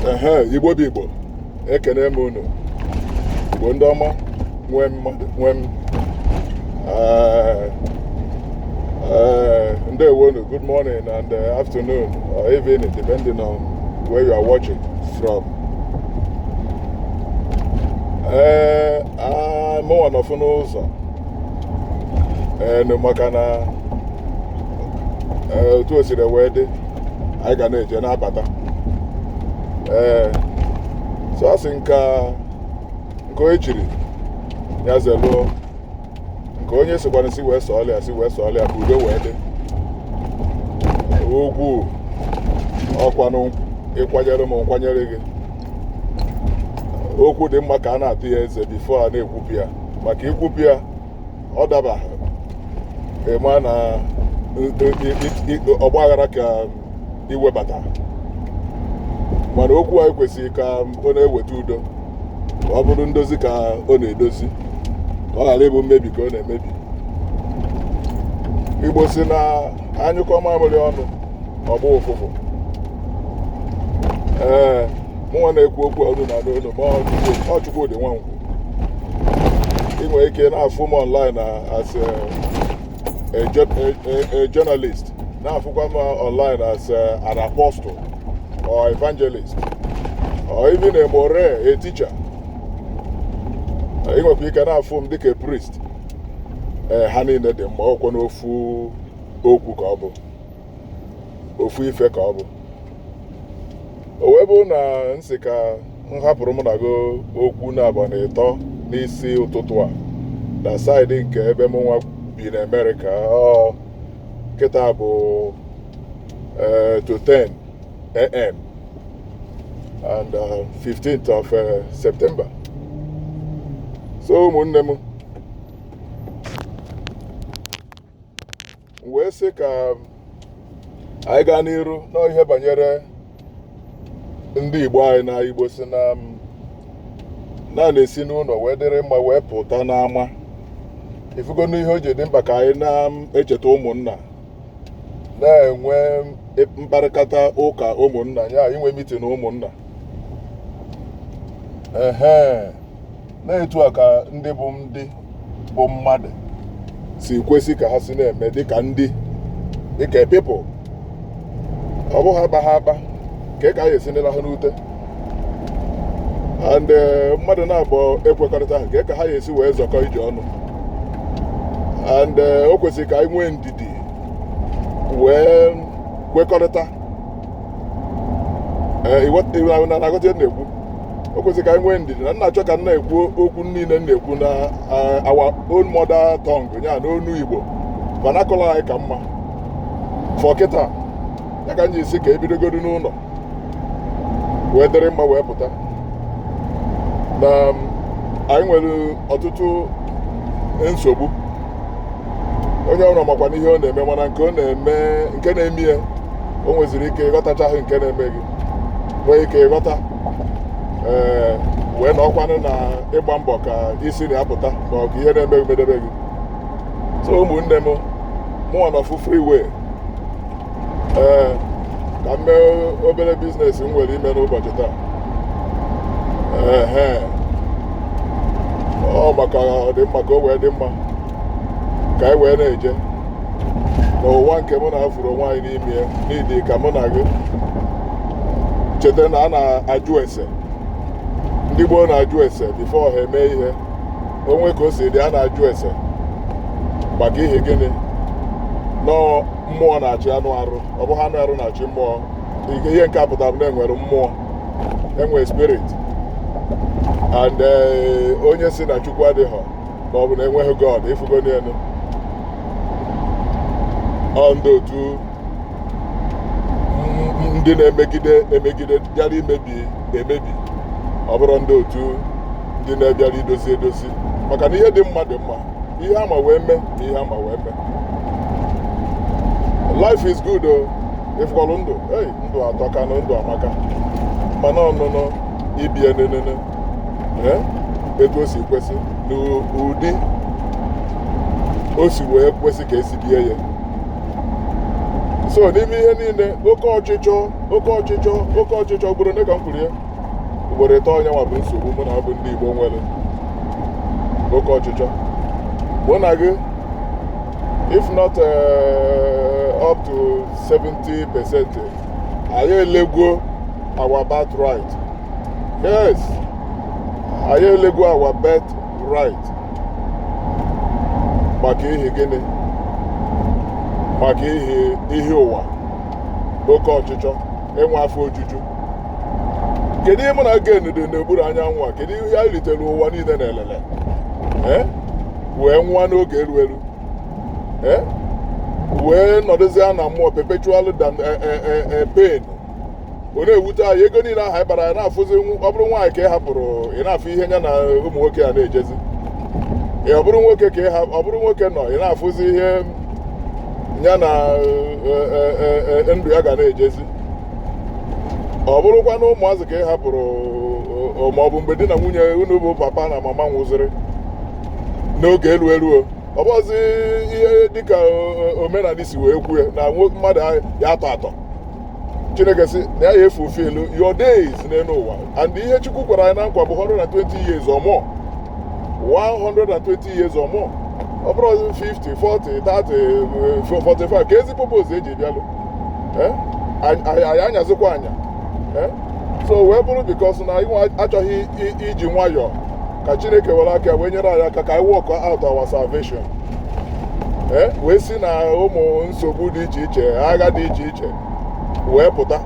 ehe igbo bụ igbo ekene m unu igbo ndị ọma nwe mmadụ nwe m ndewonu good morning and uh, afternoon or evening depending on where you are watching from ee eh, mụnwa nọfụ n'ụzọ enu eh, maka na eh, otu o siri wee dị anyị ga na-eje na-abata ee so a sị nka nke onye chiri ya zeluo nke onye sikwanụ si wee sọọlị ya si wee sọọlị ya ka udo wee dị ugwu ọkwanụ ị kwanyere m m kwanyere gị okwu dị mma ka a na-ata ya eze bifo a na-ekwupụ ya maka i kwupụ ya ọ dabaha ị ma na ọgba aghara ka i webata mana okwu anyị kwesịrị ka ọ na-eweta udo ka ọ bụrụ ndozi ka ọ na-edozi ka ọ ghara ịbụ mmebi ka ọ na-emebi igbo sị na a nyụkọ mamịrị ọnụ ọ gbaa ụfụfụ ee mụnwa na-ekwu okwu unu na-anụ olu m a ọ Chukwu- ọ Chukwudị Nwankwo ị nwere ike na-afụ m online na as a, a, jour- a, a, a journalist na-afụkwa m online as a, an apostle or evangelist or even a more a teacher ị nwekwa ike na-afụ m dịka a priest ee ha niile dị mma ọkwa n'ofu okwu ka ọ bụ ofu ife ka ọ bụ o wee bụ na m sị ka m hapụrụ ụmụnna ga okwu naabọ na ịtọ n'isi ụtụtụ a na saịdị nke ebe mụnwa bi na amerịka ọ kịta bụ eh, to 10 am and uh, 15th of uh, september so ụmụnne m wee sị ka anyị gaa n'iru na ihe banyere ndị Igbo anyị na Igbo sị na na a na-esi n'ụlọ wee dịrị mma wee pụta n'ama ị fụgo n'ihe o ji dị mkpa ka anyị na-echeta ụmụnna na-enwe mkparịkọta ụka ụmụnna ya na inwe mitin ụmụnna ehe na etu a ka ndị bụ ndị bụ mmadụ si kwesị ka ha si na-eme dịka ndị dịka people ọ bụghị akpaha akpa ka ka a ga-esi na-alaha n'ute and eh, mmadụ naabọ ekwekọrịtahụ kee ka ha ga-esi wee zọkọ ije ọnụ and eh, o kwesịrị ka anyị nwee ndidi wee kwekọrịta ee ịghọta ihe ahụ na na-aghọta ihe m na-ekwu o kwesịrị ka anyị nwee ndidi na m na-achọ ka m na-ekwu okwu niile m na-ekwu na eh, our own mother tongue ya na onu igbo vernacular anyị ka mma for kịta ya ka anyị ji asị ka ebidogodu n'ụlọ wee dịrị mma wee pụta na um, anyị nwere ọtụtụ nsogbu onye ọbụla makwanụ ihe ọ na-eme mana nke ọ na-eme nke na-eme ya o nweziri ike ịghọtachaghị nke na-eme gị nwee ike ịghọta ee wee nọkwanụ na ịgba mbọ ka i si na ya pụta ma ọ bụ ihe na-eme gị medebe gị so ụmụnne m mụnwa nọfụ freeway ee ka m mee obere business m nwere ime n'ụbọchị taa ehe ọ maka ọdịmma ka o wee dị mma ka anyị wee na-eje n'ụwa nke mụ na gị fụrụ onwe anyị n'ime ya need ka mụ na gị cheta na a na-ajụ ese ndị gboo na-ajụ ese before ha eme ihe o nwee ka o si dị a na-ajụ ese maka ihi gịnị na ọ mmụọ na-achị anụ arụ ọ bụghị anụ arụ na-achị mmụọ nke ihe nke a pụtara bụ na enwere mmụọ enwere spirit and eh, onye sị na chukwu adịghọ ma ọ bụ na enweghị god ịfụgo n'elu ọ ndị otu m- ndị na-emegide emegide bịara imebi emebi ọ bụrọ ndị otu ndị na-abịara idozi edozi maka na ihe dị mma dị mma ihe ama wee mee na ihe ama wee mee life is good o ịfụkwalụ ndụ ei ndụ atọka na ndụ amaka mana ọnụnụ ibie nenene ee etu o si kwesị n'ụdị o si wee kwesị ka esi bie ya so n'ime ihe niile oke ọchịchọ oke ọchịchọ oke ọchịchọ ugboro one ka m kwuru ya ugboro ịtọ ọ nya nwa bụ nsogbu mụ na gị bụ ndị Igbo nwere oke ọchịchọ mụ na gị if not uh, up to 70 percent anyị elegwo our birth right yes anyị elegwo our birth right maka ihi gịnị maka ihi ihe ụwa oke ọchịchọ enwe afọ ojuju kedu ihe mụ na gị gained n'okpuru anyanwụ a kedu ihe anyị ritere ụwa niile n'elele ee wee nwụọ n'oge eru eru ee wee nọdụzie na mmụọ perpetual dan e, e, e, e, pain ọ na-ewute anyị ego niile ahụ anyị kpara anyị na-afụzi nw- ọ bụrụ nwaanyị ka ị hapụrụ ị na-afụ ihe ya na ụmụ nwoke a na-ejezi Ee, ọ bụrụ nwoke ka ị ha- ọ bụrụ nwoke nọ ị na-afụzi ihe ya na e, e, e, e, ndụ ya ga na-ejezi ọ bụrụkwa na ụmụazị ka ị hapụrụ ma ọ bụ mgbe di na nwunye unu bụ papa na mama nwụziri n'oge elu eruo ọ bụrọzi ihe dịka omenala si wee kwue na mmadụ ya atọ atọ chineke sị na ya fulfill your days n'elu ụwa and ihe chukwu kwara anyị na nkwa bụ 120 years or more 120 years or more ọ bụrụ 50 40 30 45 keezi purpose eji bịalụ eh? anyị anyazikwa anya eh? so wee bụrụ because na anyị achọghị iji nwayọọ ka chineke were aka wee nyere anyị aka ka anyị work out our salvation eh? wee si na ụmụ nsogbu dị iche iche agha dị iche iche wee pụta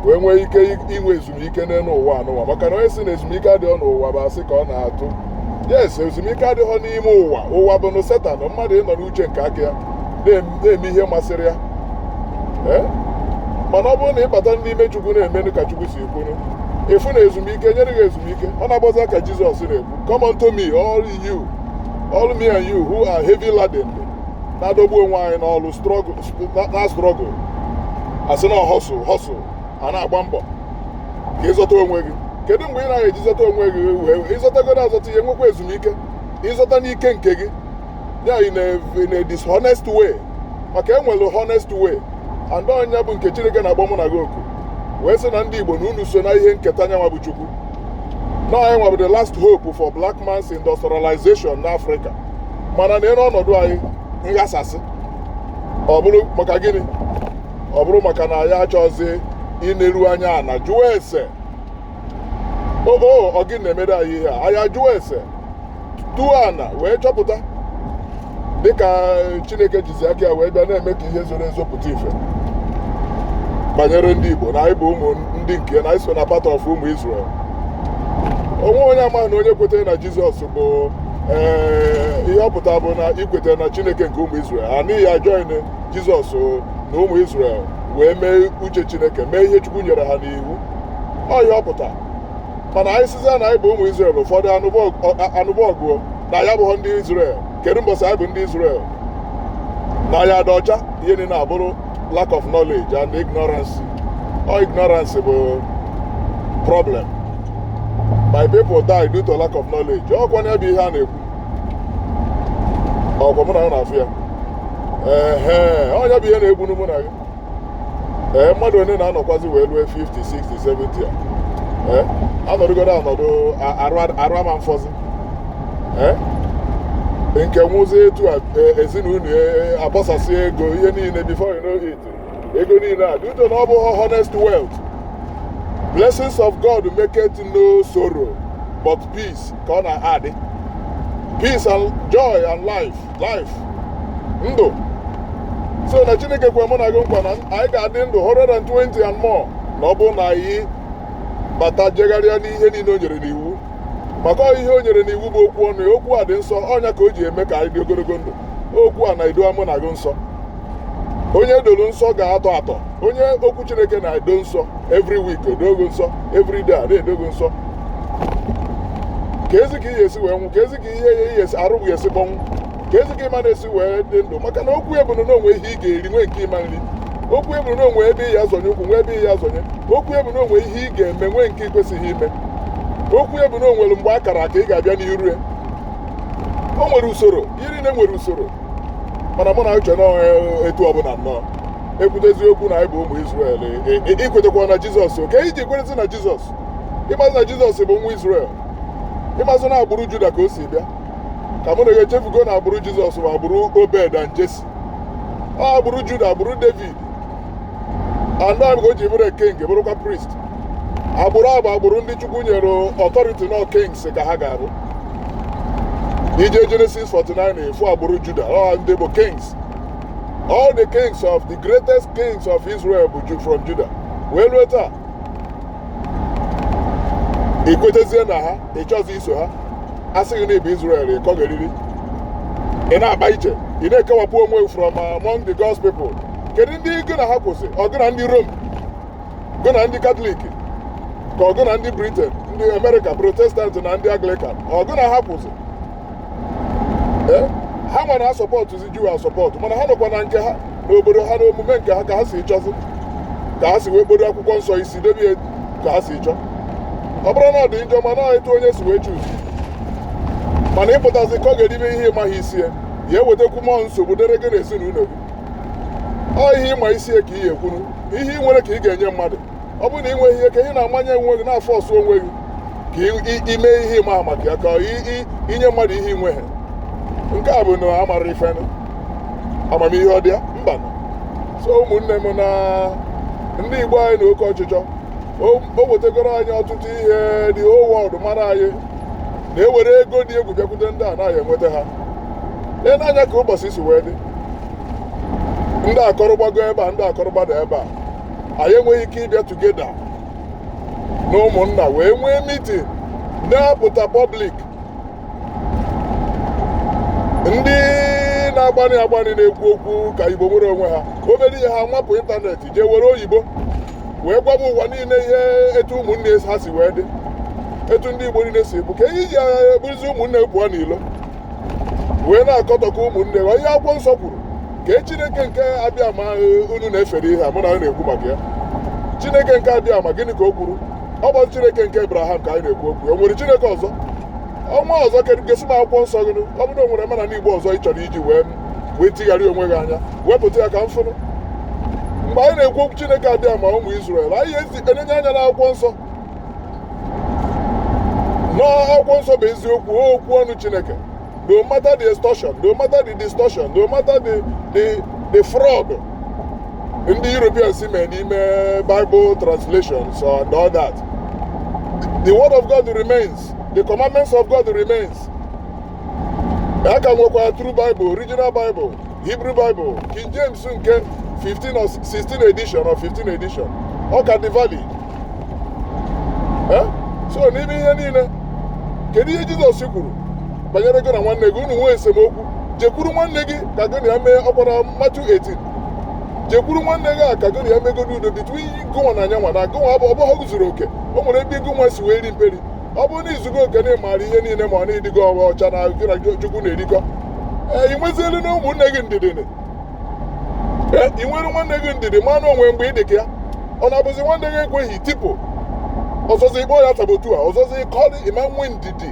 wee nwee ike inwe ezumike n'elu ụwa anụwa maka na onye si na ezumike adịghị n'ụwa bụ asị ka ọ na-atụ yes ezumike adịghị n'ime ụwa ụwa bụ na setan mmadụ ịnọ n'uche nke aka ya na-eme ihe masịrị ya eh? mana ọ bụrụ na ị bata n'ime chukwu na-emenụ ka chukwu si ekwunu ị fụ na ezumike nyere gị ezumike ọ na-agbaza ka jizọs na-ekwu come unto me all you all me and you who are heavy laden na-adọgbu onwe anyị n'ọlụ na struggle a sị na hustle hustle a na-agba mbọ ka ị zọta onwe gị kedu mgbe ị na-eji zọta onwe gị wee ị zọtagodo azọta ị ya-enwekwa ezumike ị zọta n'ike nke gị ya in a, in a dishonest way maka e nwere honest way and ọ nya bụ nke chineke na-agwa mụ na gị okwu wee sị na ndị igbo na unu so na ihe nketa nyanwa bụ chukwu na anyị nwa bụ the last hope for black man's industrialization n'Africa mana neere ọnọdụ anyị nghasasị ọ bụrụ maka gịnị ọ bụrụ maka na anyị achọzi ineru anya ana jụọ ese o o ọ gịnị na-emere anyị ihe a anyị ajụọ ese tuo ana wee chọpụta dịka chineke jizi aka ya wee bịa na-eme ka ihe zoro ezo pụta ife banyere ndị igbo na anyị bụ ụmụ ndị nke na anyị so na part of ụmụ Israel o nweghị onye amaghị na onye kwetara na jizọs bụ ee ihe ọ pụtara bụ na i kwetara na chineke nke ụmụ Israel a na ị ya join jizọs na ụmụ israel wee mee uche chineke mee ihe chukwu nyere ha n'iwu ọ ihe ọ pụta mana anyị sizie na anyị bụ ụmụ israel ụfọdụ anụba ọgụ na anyị abụghọ ndị israel kedu mbọsị anyị bụ ndị israel na anyị adịghọ ọcha ihe niile abụrụ lack of knowledge and ignorance ọ ignorance bụ problem my people die due to lack of knowledge ọkwa na ebe ihe a na-ekwu ọkwa mụ na ya na-afụ ya ee ọ nya bụ ihe na-egbunu mụ na gị ee mmadụ onye na-anọkwazi wee lue 50 60 70 a ee anọdụgodo anọdụ arụ ama mfọzi ee nke nwụzi etu a e, ezinụlọ e, e, agbasasị ego ihe niile before you know it ego niile a due to na ọ bụ honest wealth blessings of god maketh no sorrow but peace ka ọ na-adị peace and joy and life life ndụ so na chineke kwe mụ na gị nkwa na anyị ga-adị ndụ 120 and more na ọ bụrụ na anyị bata jegharịa n'ihe niile o nyere n'iwu maka ọ ihe o nyere n'iwu bụ okwu ọnụ ya okwu a dị nsọ ọ nya ka o ji eme ka anyị dị ogologo ndụ okwu a na-edo mụ na gị nsọ onye e doro nsọ ga-atọ atọ onye okwu chineke na-edo nsọ every week edoo gị nsọ every day na-edo gị nsọ keezi ka ị ya-esi wee nwụ keezi ka ị ya ị ya-esi arụ ga-esi kpọnwụ keezi ka ị ma-esi wee dị ndụ maka na okwu ya bụ na o nwe ihe ị ga-eri nwee nke ị ma-eri okwu ya bụ na o nwe ebe ị ya-azọnye ụkwụ nwee ebe ị ya-azọnye okwu ya bụ na o nwe ihe ị ga-eme nwee nke i kwesịghị ime okwu ya bụ na o nwere mgbe a kara aka ị ga-abịa n'iru ya o nwere usoro iri nri nwere usoro mana mụ na-eche na etu ọbụla nnọọ e kwutezi okwu na anyị bụ ụmụ Izrel i kwetekwa na Jizọs kee ihe i ji kwerezi na Jizọs ị mazị na Jizọs bụ nwa Izrel ị mazị na agbụrụ Juda ka o si bịa ka mụ na gị echefugo na agbụrụ Jizọs bụ agbụrụ Obed and Jesi ọ agbụrụ Juda agbụrụ David ọ nya ka o ji bụrụ king bụrụkwa priest agbụrụ a bụ agbụrụ ndị chukwu nyere authority na kings ka ha ga-abụ i je genesis 49 ị fụ agbụrụ juda ọ ndị bụ kings all the kings of the greatest kings of israel bụ Ju- from juda wee rue taa i kwetezie na ha ị chọzi iso ha a sị gị na ị bụ israel ị kọgheriri ị na-akpa iche ị na-ekewapụ onwe gị from among the God's people kedu ndị gị na ha kwụzị ọ gụ na ndị rom gụ na ndị katọlik ka ọ gụ na ndị briten ndị amerịka protestant na ndị anglikan ọ gụ na ha kwụzị ha nwa na-asọpọtụzi juu asọpọtụ mana ha nọkwa na nke ha n'obodo ha n'omume nke ha ka ha si chọzi ka ha si wee kpodo akwụkwọ nsọ isi debie ka ha si chọọ ọ bụrụ na ọ dị njọ mana ọ etu onye si wee chuzi mana ị pụtazi ka ọ ga-edebe ihe ị maghị isi ya ị ya-ewetakwu mmụọ nsogbu dere gị na ezinụlọ gị ọ ihe ị ma isi ya ka ị ya-ekwuru ihe ị nwere ka ị ga-enye mmadụ ọ bụrụ na ị nweghị ihe ka ị na-amanye onwe gị na-afọọsụ onwe gị ka i me ihe ị maa maka ya ka i nye mmadụ ihe i nweghị nke a bụ na amara ife amamihe ọ dị ya mba so ụmụnne m na ndị Igbo anyị na oke ọchịchọ o wetegoro anyị ọtụtụ ihe the whole world mara anyị na-ewere ego dị egwu bịakwute ndị a naghị enweta ha lee n'anya ka ụbọchị si wee dị ndị a kọrọ gbago ebe a ndị a kọrọ gbada ebe a anyị enweghị ike ịbịa tugeda na ụmụnna wee nwee mitin na-apụta pọblik ndị na-agbani agbani na-ekwu okwu ka igbo nwere onwe ha obere ihe ha nwapụ ịntanetị jee were oyibo wee gwaba ụwa niile ihe etu ụmụnne ha si wee dị etu ndị igbo niile si bụ kee ihe i ji eburuzi ụmụnne pụọ n'ilo wee na-akọtọka ụmụnne ha ihe akwụkwọ nsọ kwuru kee chineke nke abịama unu na-efere ihe a mụ na anyị na-ekwu maka ya chineke nke abịama gịnị ka o kwuru ọ bụ chineke nke abraham ka anyị na-ekwu okwu o nwere chineke ọzọ ọnwa ọzọ kedụ gosi m akwụkwọ nsọ gị ọ bụrụ na o nwere mana n'igbo ọzọ ị chọrọ iji wee wee tigharị onwe gị anya wepụta ya ka m fụnụ mgbe anyị na-ekwu okwu chineke abịama ụmụ Izrel anyị enenye anya n'akwụkwọ nsọ n'akwụkwọ nsọ bụ eziokwu okwu ọnụ chineke no matter the extortion no matter the distortion no matter the the the fraud ndị europeans mee n'ime bible translations and all that the word of god remains the commandments of god remains a ka nwekwa true bible original bible hebrew bible king james nke 15 or 16 edition or 15 edition ọ ka dị valid so n'ime ihe niile kedu ihe jizọs kwuru banyere gị na nwanne gị unu nwee esemokwu jekwuru nwanne gị ka gị na ya mee ọ kwa na matiu 18 jekwuru nwanne gị a ka gị na ya megodu udo between gụnwa na yanwa na gụnwa abụ abụghị ozuru oke o nwere ebe gụnwa si wee ri mperi ọ bụrụ na i zugo oke na ị maara ihe niile ma na ị dịgo ọcha ọcha na gị na chukwu na-erikọ ee ị nwezielu nụ ụmụnne gị ndidi nụ ee ị nwere nwanne gị ndidi manụ o nwe mgbe ị dị ka ya ọ na-abụzi nwanne gị ekweghị i tipụ ọzọzi ịkpọ ya sabotua ọzọzi ịkọrị ị ma nwe ndidi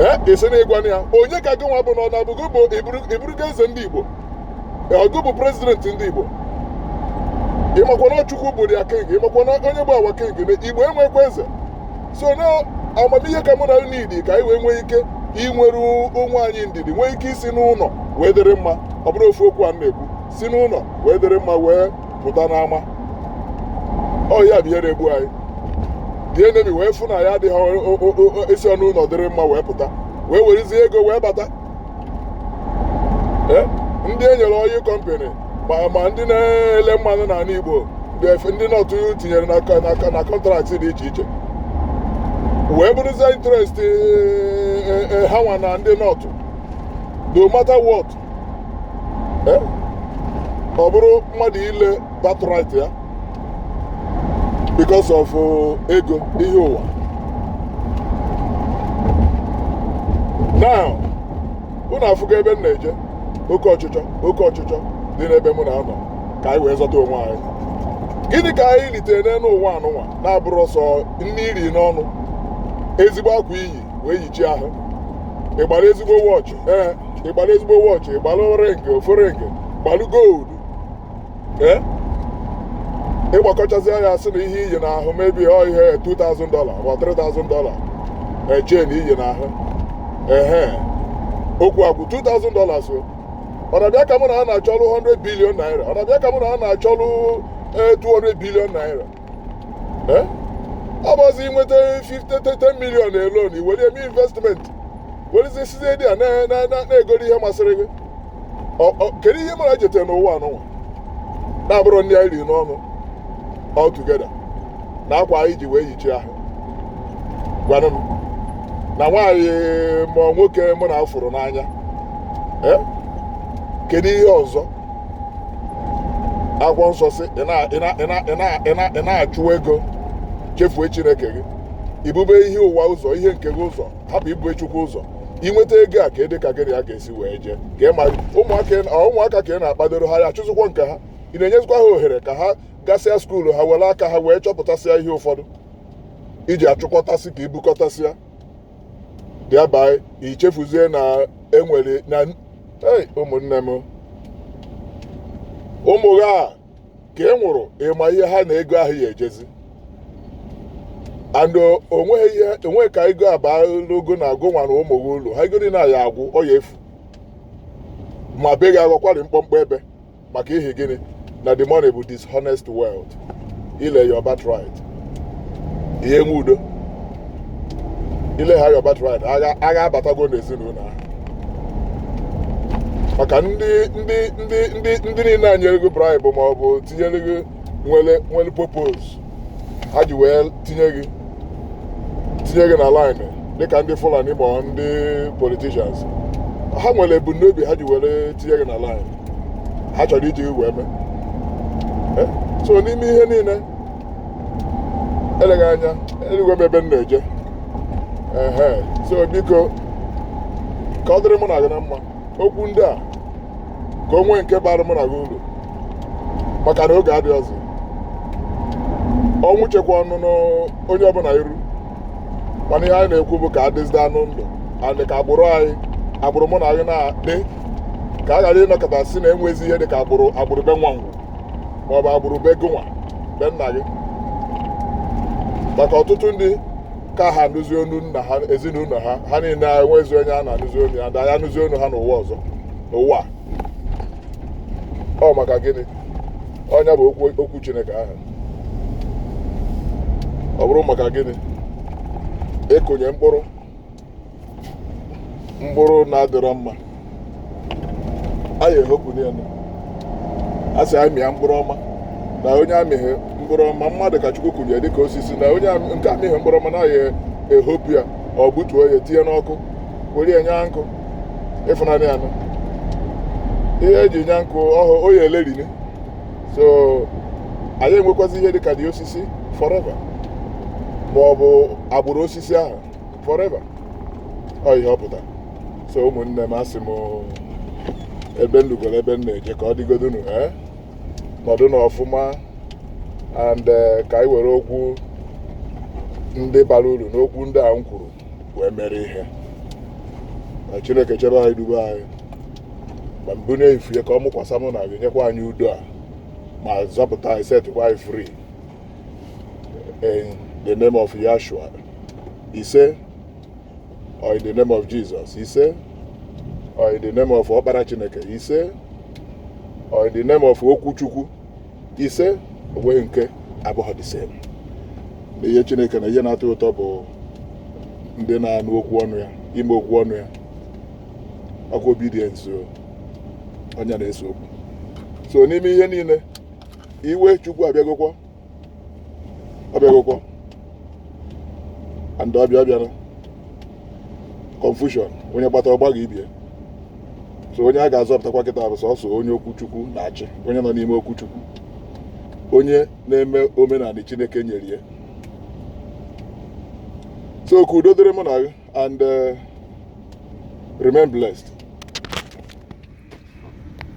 ee ị sị na ị gwana ya onye ka gị nwa bụ na ọ na-abụ ị bụrụgo eze ndị igbo ọ gụ bụ prezidenti ndị igbo ị makwa na ọ chukwu bụ awa king ị makwana onye bụ awa king na igbo enwekwa eze so na amamihe ka mụ na unu niidi ka anyị wee nwee ike inwere onwe anyị ndidi nwee ike isi n'ụnọ wee dịrị mma ọ bụrụ ofu okwu a na-ekwu si n'ụnọ wee dịrị mma wee pụta n'ama ọ ya bụ ihe na-egbu anyị dị enemi wee fụ na anyị adịghị esi n'ụnọ dịrị mma wee pụta wee werezie ego wee bata eh, ndị e nyere ọyịl kọmpanị ma ndị na-ele mmanụ n'anị Igbo ndị nọtụ tinyere na kọntraktị dị iche iche wee bụrụzie interest eh, eh, ha nwa na ndị nọtụ no matter what ọ bụrụ mmadụ ile birthright ya because of uh, ego ihe ụwa now unu afụgo ebe m na-eje oke ọchịchọ oke ọchịchọ dị n'ebe mụ na-anọ ka anyị wee zọta onwe anyị gịnị ka anyị litere n'elu ụwa anụnwa na-abụrọ sọ nni i ri n'ọnụ ezigbo akwa i yi wee yichie ahụ ị gbara ezigbo wọchị ee ị gbara ezigbo wọchị ị gbara ring ofu ring gbalụ gold ee ị gbakọchazie ya a sị na ihe i yi n'ahụ maybe ọ ihe 2000 dollar ma 3000 dollar chain i yi n'ahụ ehe okwu agwụ 2000 dollars o ọ na-abịa ka mụ na ha na-achọlụ 100 billion naira ọ na-abịa ka mụ na ha na-achọlụ eh, 200 billion naira Eh? ọ bụzi i nweta 50 10 million alone i were eme investment werezi sizie there na- na- na- na-egoro ihe masịrị gị kedu ihe mụ na ị jetere n'ụwa anụnwa na-abụrọ nni anyị riri n'ọnụ all together na akwa anyị ji wee yichie ahụ gwanụ m na nwaanyị ma nwoke mụ nwa fụrụ n'anya eh? kedu ihe ọzọ akwụkwọ nsọ sị ị na-achụ ego chefue chineke gị i bube ihe ụwa ụzọ ihe nke gị ụzọ hapụ ibu chukwu ụzọ i nweta ego a kedu ka gị na ya ga-esi wee jee ka ị mara ụmụaka ka ị na-akpadoro ha ya achụzikwa nke ha ị na-enyezikwa ha ohere ka ha gasịa skuulu ha were aka ha wee chọpụtasịa ihe ụfọdụ i ji achụkọtasị ka i bukọtasịa thereby i chefuzie na enwere na ụmụnne m ụmụ gị a ka ị nwụrụ ị ma ihe ha na ego ahụ ya ejezi and o nwee ike na ego abalọ gị na gị nwa na ụmụ gị ulu ha ego niile a ya agwụ ọ ya efu ma be gị aghọkwarị mkpọmkpọ ebe maka ihi gịnị na the money bụ dishonest wealth i lee your birthright ị ya-enwe udo i lee ha your birthright agha agha abatago n'ezinụlọ ahụ maka ndị ndị ndị ndị ndị niile a nyere gị bribe ma ọ bụ tinyere gị nwere nwere purpose ha ji wee tinye gị tinye gị na line dịka ndị fulani ma ọ ndị politicians ha nwere ebumnobi ha ji were tinye gị na line ha chọrọ iji gị wee mee Eh, so n'ime ihe niile eleghị anya eluigwe bụ ebe m na-eje ehe so biko ka ọ dịrị mụ na gị na mma okwu ndị a ka o nwee nke bara mụ na gị uru maka na oge adịghị ọzọ ọnwụ chekwa ọnụ n'onye ọbụla iru mana ihe anyị na-ekwu bụ ka a dịzidenụ ndụ and ka agbụrụ anyị agbụrụ mụ na gị na-adị ka a ghara ịnọkata sị na enwezi ihe dị ka agbụrụ agbụrụ be nwa ngwụ ma ọ bụ agbụrụ be gụnwa be nna gị maka ọtụtụ ndị ka ha anụzi onu nna ha ezinụlọ ha ha niile enwezi onye a na-anụzi onu ya da ya anụzi onu ha n'ụwa ọzọ n'ụwa ọ maka gịnị ọ nya bụ okwu chineke ahụ ọ bụrụ maka gịnị ịkụnye mkpụrụ mkpụrụ na-adịrọ mma a ya-ehopụnụ ya a sị anyị mịa mkpụrụ ọma na onye amịghị mkpụrụ ọma mmadụ ka chukwu kụnye dịka osisi na onye am- nke amịghị mkpụrụ ọma na ya ehopụ ya ọ gbutuo ya tinye n'ọkụ were ya nya nkụ ịfụnanị anụ ihe eji nya nkụ ọhụ o ya elerini so anyị enwekwazi ihe dịka the osisi forever ma ọ bụ agbụrụ osisi ahụ forever ọ ihe ọ pụtara so ụmụnne m asị m ebe m lugoro ebe m na-eje ka ọ dịgodunu ee nọdụnụ ọfụma and eh, ka anyị were okwu ndị bara uru n'okwu ndị a m kwuru wee mere ihe na chineke chebe anyị dube anyị ma bunie ifu ya ka ọ mụkwasa mụ na gị nyekwa anyị udo a ma zọpụta anyị setịkwa anyị free in the name of Yahshua ise or in the name of Jesus ise or in the name of ọkpara Chineke ise or in the name of okwu Chukwu ise onweghị nke abụghị the same na ihe Chineke na ihe na-atọ ụtọ bụ ndị na-anụ okwu ọnụ ya ime okwu ọnụ ya ọkwa obedience ọ nya na-ese okwu so n'ime ihe niile iwe chukwu abịagokwa abịagokwa and ọ bịa ọ bịara confusion onye gbata ọ gbagha ibie so onye a ga-azọpụtakwa kịta bụ sọsọ onye okwu chukwu na-achị onye nọ n'ime okwu chukwu onye na-eme omenala chineke nyere ya so ka udo dịrị mụ na gị and uh, remain blessed